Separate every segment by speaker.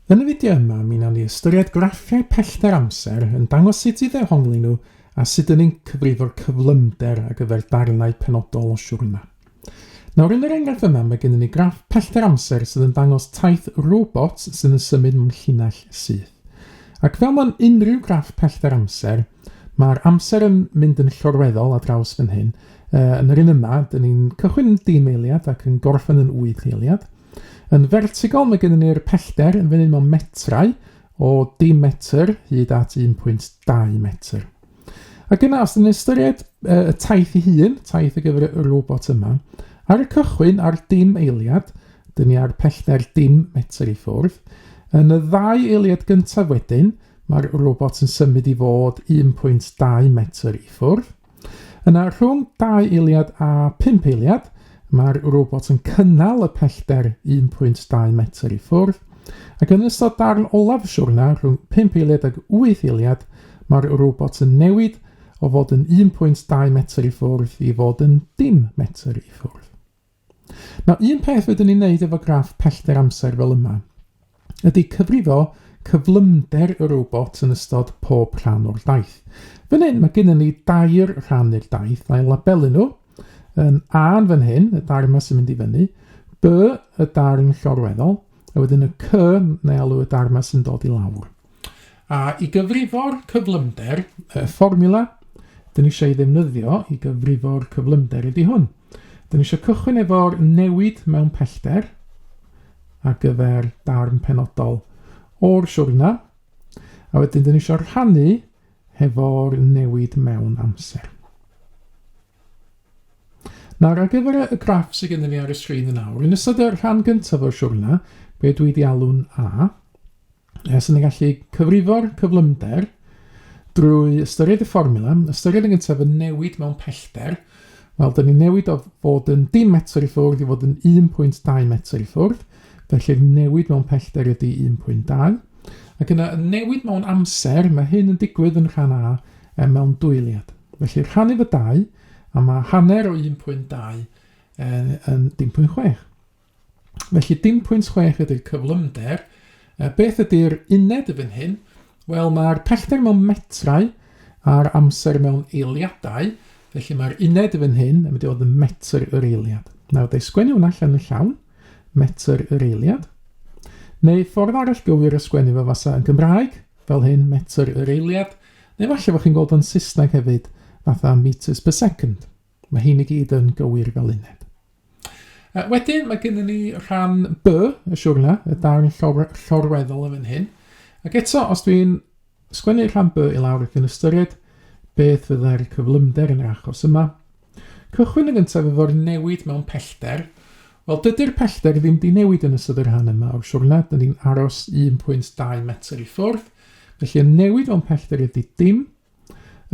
Speaker 1: Yn y fideo yma, mi wnawn ni ystyried graffiau pellter amser yn dangos sut i ddehongli nhw a sut yn ni'n cyfrifo'r cyflymder ar gyfer darnau penodol o siwrna. Nawr, yn yr enghraifft yma, mae gennym ni graff pellter amser sydd yn dangos taith robot sydd yn symud mewn llinell syth. Ac fel mewn unrhyw graff pellter amser, mae'r amser yn mynd yn llorweddol a draws fan hyn. Yn yr un yma, dyn ni'n cychwyn yn dim eiliad ac yn gorffen yn wyth eiliad. Yn fertigol mae gennym ni'r pellter yn fyny mewn metrau o dim metr hyd at 1.2 metr. Ac yna, os ydyn ni'n ystyried uh, y taith ei hun, taith ar gyfer y robot yma, ar y cychwyn ar dim eiliad, dyn ni ar pellter dim metr i ffwrdd, yn y ddau eiliad gyntaf wedyn, mae'r robot yn symud i fod 1.2 metr i ffwrdd, Yna rhwng dau eiliad a pump eiliad, mae'r robot yn cynnal y pellter 1.2 metr i ffwrdd, ac yn ystod darn olaf y siwrna, rhwng 5 eiliad ag 8 eiliad, mae'r robot yn newid o fod yn 1.2 metr i ffwrdd i fod yn dim metr i ffwrdd. Mae un peth wedyn ni'n neud efo graff pellter amser fel yma, ydy cyfrifo cyflymder y robot yn ystod pob rhan o'r daith. Fan hyn mae gennym ni dair rhan i'r daith a'i labelu nhw. Um, A yn fan hyn, y darn yma sy'n mynd i fyny, B y darn llorweddol, a wedyn y C neu alw y darn yma sy'n dod i lawr. A i gyfrifo'r cyflymder, y fformiwla dyn ni eisiau ei ddefnyddio i gyfrifo'r cyflymder ydy hwn. Dyn ni eisiau cychwyn efo'r newid mewn pellter ar gyfer darn penodol o'r siwrna, a wedyn dyn ni eisiau rhannu hefo'r newid mewn amser. Nawr, ar gyfer y graff sydd gennym ni ar y sgrin yn awr, yn ystod y rhan gyntaf o'r siwrna, be dwi wedi alw'n A, Os yn y gallu cyfrifo'r cyflymder drwy ystyried y fformula, ystyried yn gyntaf y newid mewn pellter, wel, dyn ni'n newid o fod yn dim metr i ffwrdd i fod yn 1.2 metr i ffwrdd, felly'r newid mewn pellter ydy 1.2, ac yna y newid mewn amser, mae hyn yn digwydd yn rhan A e, mewn dwyliad. Felly rhannu fy dau, a mae hanner o 1.2 yn, yn 1.6. Felly 0.6 ydy'r cyflymder. E, beth ydy'r uned y fan hyn? Wel, mae'r pellter mewn metrau a'r amser mewn eiliadau. Felly mae'r uned y fan hyn yn mynd i fod yn metr yr eiliad. Nawr, dau sgwennu hwnna allan yn llawn. Metr yr eiliad. Neu ffordd arall gywir o sgwennu fo fasa yn Gymraeg, fel hyn, metr yr eiliad. Neu falle fod chi'n gweld o'n Saesneg hefyd, fatha meters per second. Mae hyn i gyd yn gywir fel uned. Uh, wedyn mae gennym ni rhan B y siwrna, y darn llor llorweddol yn fan hyn. Ac eto, os dwi'n sgwennu rhan B i lawr ac yn ystyried beth fyddai'r cyflymder yn yr achos yma, cychwyn yn gyntaf efo'r newid mewn pellter, Wel, dydy'r pellter ddim di newid yn ystod yr rhan yma o'r siwrna, dyn ni'n aros 1.2 metr i ffwrdd, felly y newid o'n pellter ydy dim,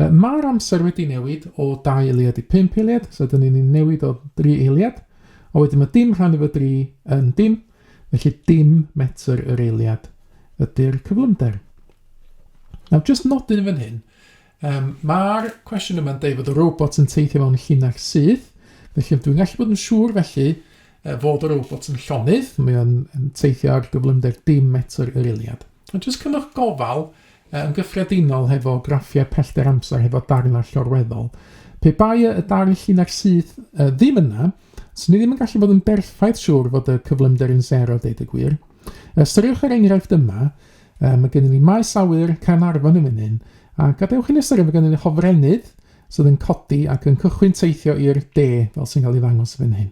Speaker 1: Mae'r amser wedi newid o 2 eiliad i 5 eiliad, so dyn ni'n newid o 3 eiliad, a wedyn mae dim rhan efo 3 yn dim, felly dim metr yr eiliad ydy'r cyflymder. Nawr, just nodyn yn fan hyn, um, mae'r cwestiwn yma'n dweud fod y robot yn teithio mewn llinell syth, felly dwi'n gallu bod yn siŵr felly uh, fod y robot yn llonydd, mae o'n teithio ar gyflymder dim metr yr eiliad. Ond jyst cymwch gofal Yn gyffredinol hefo graffiau pellter amser hefo darnau llorweddol. Pe bai y darn llinell syth uh, ddim yna, swn i ddim yn gallu bod yn berffaith siŵr fod y cyflymder yn sero, deud y gwir. Ystyriwch yr enghraifft yma, uh, mae gennym ni maes awyr Caernarfon yn fan a gadewch i ni ystyried mae gennym ni hofrennydd sydd yn codi ac yn cychwyn teithio i'r de, fel sy'n cael ei ddangos fan hyn.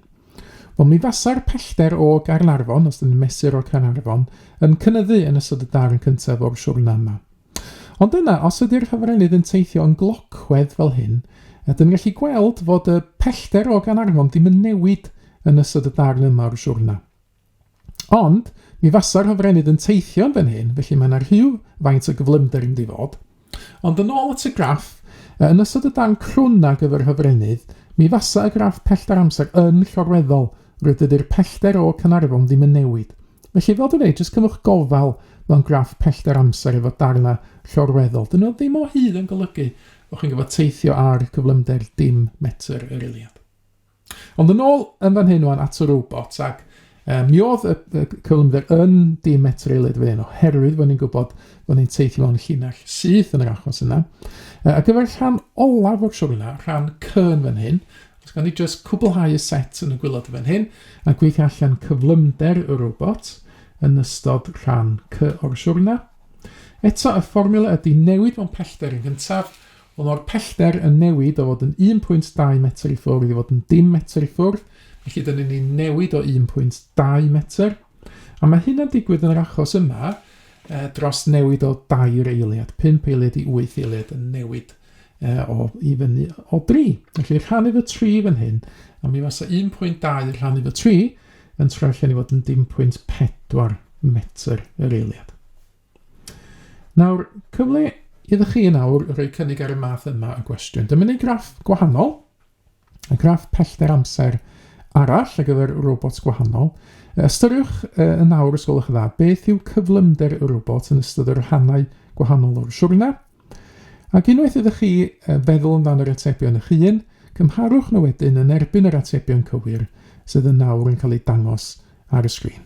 Speaker 1: Wel, mi fasa'r pellter o Gaernarfon, os ydyn mesur o Caernarfon, yn cynyddu yn ystod y darn cyntaf o'r siwrna yma. Ond yna, os ydy'r hyfrenydd yn teithio yn glocwedd fel hyn, ydym yn gallu gweld fod y pellter o gan arfon ddim yn newid yn ystod y darn yma o'r siwrna. Ond, mi fasa'r hofrennydd yn teithio'n fan hyn, felly mae yna rhyw faint o gyflymder yn difod. Ond yn ôl at y graff, yn ystod y darn crwn ar gyfer hofrennydd, mi fasa y graff pellter amser yn llorweddol, rwy'r dydy'r pellter o Canarfon ddim yn newid. Felly, fel dwi'n ei, jyst cymwch gofal mewn graff pellter amser efo darna llorweddol. Dyn nhw ddim o hyd yn golygu bod chi'n gyfod teithio ar cyflymder dim metr yr eiliad. Ond yn ôl yn fan hyn o'n at y robot ac um, mi oedd y, y cyflymder yn dim etreulydd fan hyn oherwydd bod ni'n gwybod bod ni'n teithio mewn llinell syth yn yr achos yna. Uh, a gyfer rhan olaf o'r siwr yna, rhan cyn fan hyn, os gan ni jyst cwblhau y set yn y gwylod fan hyn a gwych allan cyflymder y robot yn ystod rhan cy o'r siwr yna. Eto y fformula ydy newid mewn pellter yn gyntaf Ond mae'r pellter yn newid o fod yn 1.2 metr i ffwrdd i fod yn dim metr i ffwrdd, felly dyn ni'n newid o 1.2 metr. A mae hynna'n digwydd yn yr achos yma e, dros newid o dair eiliad, 5 eiliad i 8 eiliad yn newid e, o i fyny o 3. Felly rhan efo 3 fan hyn, a mi fasa 1.2 rhan efo 3 yn troi allan i fod yn 1.4 metr yr eiliad. Nawr, cyfle iddo chi yn awr rhoi cynnig ar y math yma o gwestiwn. Dyma ni graff gwahanol, y graff pellter amser arall ar gyfer robots gwahanol. Ystyriwch uh, yn awr, os gwelwch yn dda, beth yw cyflymder y robot yn ystod y rhannau gwahanol o'r siwrna. Ac unwaith ydych chi uh, feddwl amdan yr atebion eich hun, cymharwch nhw wedyn yn erbyn yr atebion cywir sydd yn awr yn cael eu dangos ar y sgrin.